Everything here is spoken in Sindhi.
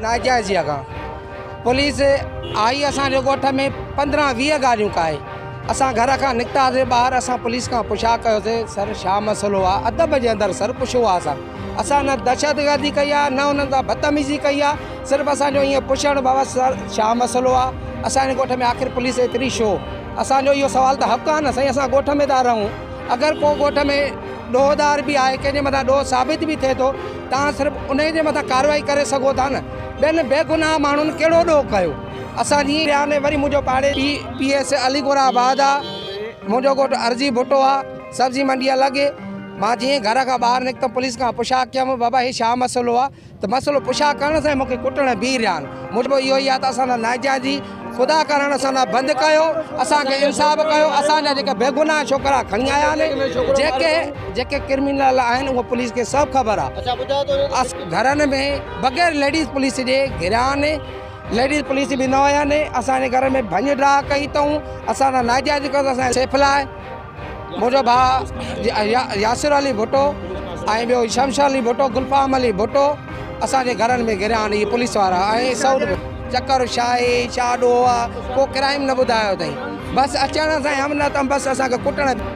ناجائزي اڳا پوليس آئي اسان جي ڳوٺ ۾ پندرهن ويهه گاڏيون ڪاهي اسان گهر کان نڪتاسي ٻاهر اسان پوليس کان پڇا ڪيوسي سر ڇا مسئلو آهي ادب جي اندر سر پڇيو آهي اسان اسان نه دهشتگردي ڪئي آهي نه انهن سان بدتميزي ڪئي آهي صرف اسان جو ائين پڇڻ بابا سر ڇا مسئلو آهي اسان جي ڳوٺ ۾ آخر پوليس ايتري شو اسان جو اهو سوال ته حق آهي نه سائين اسان ڳوٺ ۾ ٿا رهون اگر ڪو ڳوٺ ۾ ڏوهدار به آهي ڪنهن جي مٿان ڏوهه ثابت به ٿئي ٿو تان صرف ان جي مٿان ڪارروائي ڪري سگهو ٿا نه ٻين بي گناهه ماڻهن ڪهڙو ڏوهه ڪيو اسان جي وري منهنجو پاڙي پي ايس علي گورا آباد آهي منهنجو ڳوٺ ارزي ڀٽو آهي سبزي منڊي الڳ هي مان جيئن گهر کان ٻاهر نڪتم پوليس کان پڇا ڪيم بابا هي ڇا مسئلو آ ته مسئلو پڇا ڪرڻ سان ئي مونکي ڪٽڻ ۽ بيهي رهيا آهن مون چيو اهو ئي آ ته اسان سان ناجائزي خدا ڪرڻ اسان سان بند ڪيو اسان کي انصاف ڪيو اسان جا جيڪي بيگناهه ڇوڪرا کڻي آيا آهن جيڪي جيڪي ڪرمينل آهن اهو پوليس کي سڀ خبر آ اس گهرن ۾ بغير ليڊيز پوليس جي گهريا آهن ليڊيز پوليس به نه هيا آهن اسان جي گهر ۾ ڀڃ ڊاهه ڪئي اٿئون اسان سان ناجائزي ڪيو اٿئون اسان جي سيف لاء منهنجو ڀاء ياسر علي ڀٽو ۽ ٻيو شمشر علي ڀٽو گلفام علي ڀٽو اسان جي گهرن ۾ گهريا آهن اهي پوليس وارا ۽ سعود ڀٽو چڪر شاهي شاهه ڏوهه ڪو ڪرائيم نه ٻڌايو اٿئي بس اچڻ سان ئي هم نه تم بس اسان کي ڪٽڻ